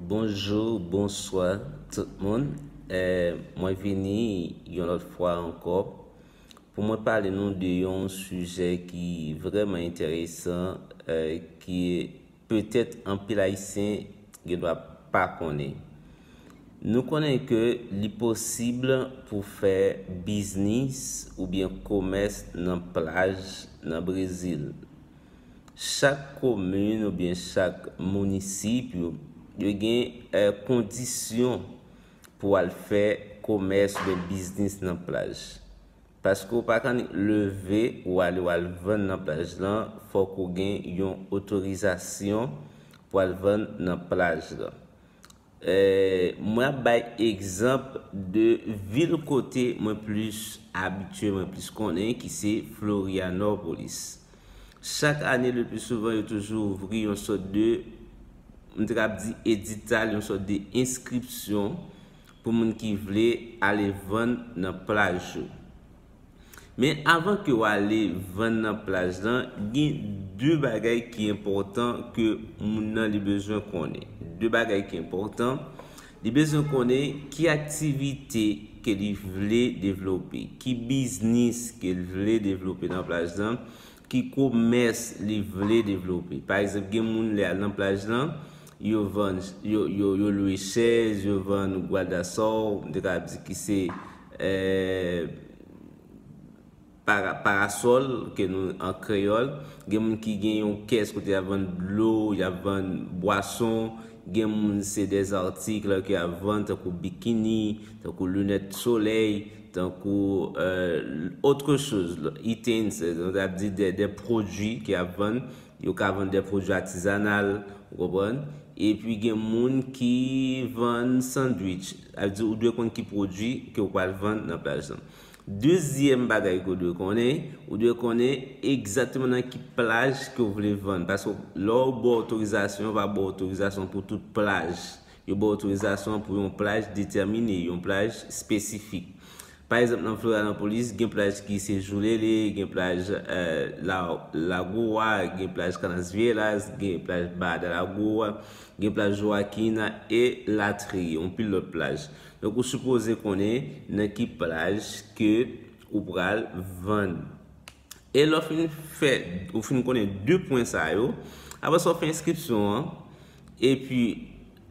Bonjou, bonswa tout moun. Mwen vini yon lòt fwa ankò pou mwen pale nou de yon sijè ki vreman enteresan ki petèt anpil ayisyen gen dwa pa konnen. Nou konnen ke li posib pou fè biznis oubyen komès nan plaj nan Brezil. Chak komin oubyen chak mounisip yo, yo gen kondisyon pou al fè komès oubyen biznis nan plaj. Paske ou pa ka annik leve ou ale ou al vann nan plaj lan, fòk ou gen yon otorizasyon pou al vann nan plaj lan. Mwen ap bay egzanp de vil kote mwen plis abitye, mwen plis konnen ki se Florianopolis. Chak ane le pli souvan yo toujou ouvri yon sòt de, m te kab di edital, yon sòt de enskripsyon pou moun ki vle ale vann nan plaj yo. Men avan ke w ale vann nan plaj lan, gen 2 bagay ki enpòtan ke moun nan li bezwen konnen. 2 bagay ki enpòtan, li bezwen konnen ki aktivite ke li vle devlope, ki biznis ke l vle devlope nan plaj lan, Ki komès li vle devlope. Pa egzanp, gen moun lè y al nan plaj lan, yo vann, yo lwe chèz, yo vann gwadasò, m te kapab di ki se parasòl ke nou an kreyòl. Gen moun ki gen yon kès kote y ap vann dlo, y ap vann bwason. Gen moun se dèzartik lè ke y ap vann tankou bikini, tankou linèt solèy. Tankou autre chose, items, nou ta ap di de pwodui ke ap vann. Yo ka vann de pwodui atizanal, ou konprann. E pi gen moun ki vann sandwich. A di ou dwe konn ki pwodui ke ou pral vann nan plaj lan. Dezyèm bagay ke ou dwe konnen, ou dwe konnen egzakteman nan ki plaj ke ou vle vann. Paske lè ou ba otorizasyon, yo va ba otorizasyon pou tout plaj Yo ba w otorizasyon an pou yon plaj detèmine, yon plaj espesifik. Pa egzanp nan Florianopolis, gen plaj ki se Joulele, gen plaj Lago a, gen plaj Canasvielas, gen plaj Baja de Lago a, gen plaj Joaquina, e latriye, yon pil lòt plaj. Donk ou sipoze konnen nan ki plaj ke ou pral vann. E lè w fin fè, ou fin konnen 2 pwen sa yo, apre sa w fè enskripsyon an, epi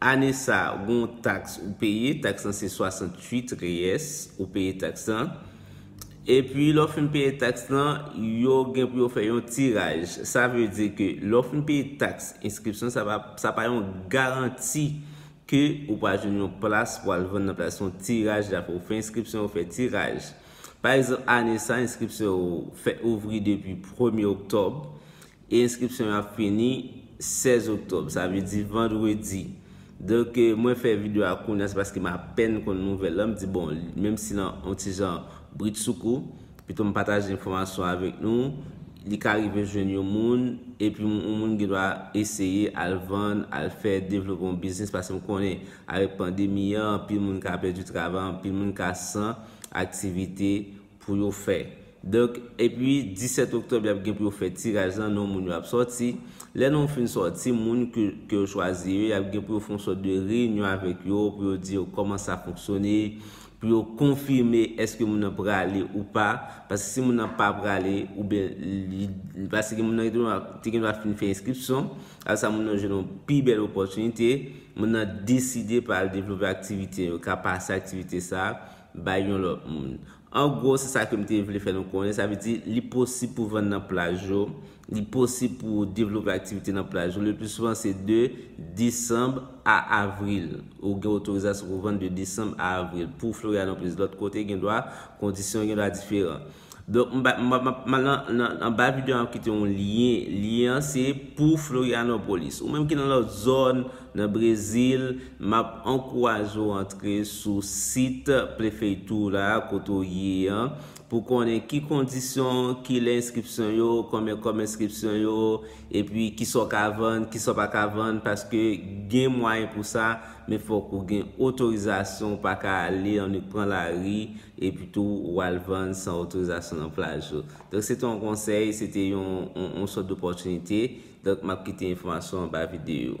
ane sa a gen yon taks ou peye, taks lan se 68 reyès, ou peye taks lan, epi lè w fin peye taks lan, yo gen pou yo fè yon tiraj. Sa vle di ke lè w fin peye taks enskripsyon, sa pa yon garanti ke ou pral jwenn yon plas pou al vann nan plas, se yon tiraj, apre ou fè enskripsyon, yo fè tiraj. Pa egzanp, ane sa a, enskripsyon yo fèt ouvri depi premye oktòb e enskripsyon yo ap fini 16 oktòb, sa vle di vandredi. Donk, mwen fè videyo a kounye a, se paske m apèn konn nouvèl la, m di bon, menm si nan yon ti jan britsoukou, pito m pataje enfòmasyon avèk nou, li ka rive jwenn yon moun, epi yon moun gen dwa eseye al vann, al fè, devlope yon biznis, paske m konnen avèk pandemi an, anpil moun ka pèdi travay, anpil moun ka san. aktivite pou yo fè. Donk, epi 17 oktòb y ap gen pou yo fè tiraj lan, non moun yo ap sòti. Lè non fin sòti, moun ke yo chwazi yo, y ap gen pou yo fè yon sòt de reyinyon avèk yo, pou yo di yo kòman sa fonksyone, pou yo konfime èske moun nan prale ou pa. Paske si moun nan pa prale, oubyen li, paske moun nan te gen dwa fin fè enskripsyon. Gras a moun nan jwenn yon pi bèl opòtinite, moun nan deside pa al devlope aktivite yo, ka pase aktivite sa a bay yon lòt moun. An gwo, se sa ke m te vle fè nou konnen, sa vle di li posib pou vann nan plaj yo, li posib pou ou devlope aktivite nan plaj yo, le pli souvan se de desanb a avril, ou gen otorizasyon pou vann de desanb a avril, pou Florianópolis, lòt kote gen dwa kondisyon gen dwa diferan. Donk m pral nan anba video an m ap kite yon lyen, lyen an se pou Florianopolis. Ou menm ki nan lòt zòn, nan Brezil, m ap ankouraje w antre sou sit Plefeitura kote w ye an pou konnen ki kondisyon, ki lè enskripsyon yo, konbyen kòb enskripsyon yo, epi kisa w ka vann, kisa w pa ka vann paske gen mwayen pou sa. Men fòk ou gen otorizasyon, ou pa ka ale an nou pran lari epi tou ou al vann san otorizasyon nan plaj yo. Donk se te yon konsèy, se te yon sòt dopòtinite, donk m ap kite enfòmasyon anba videyo.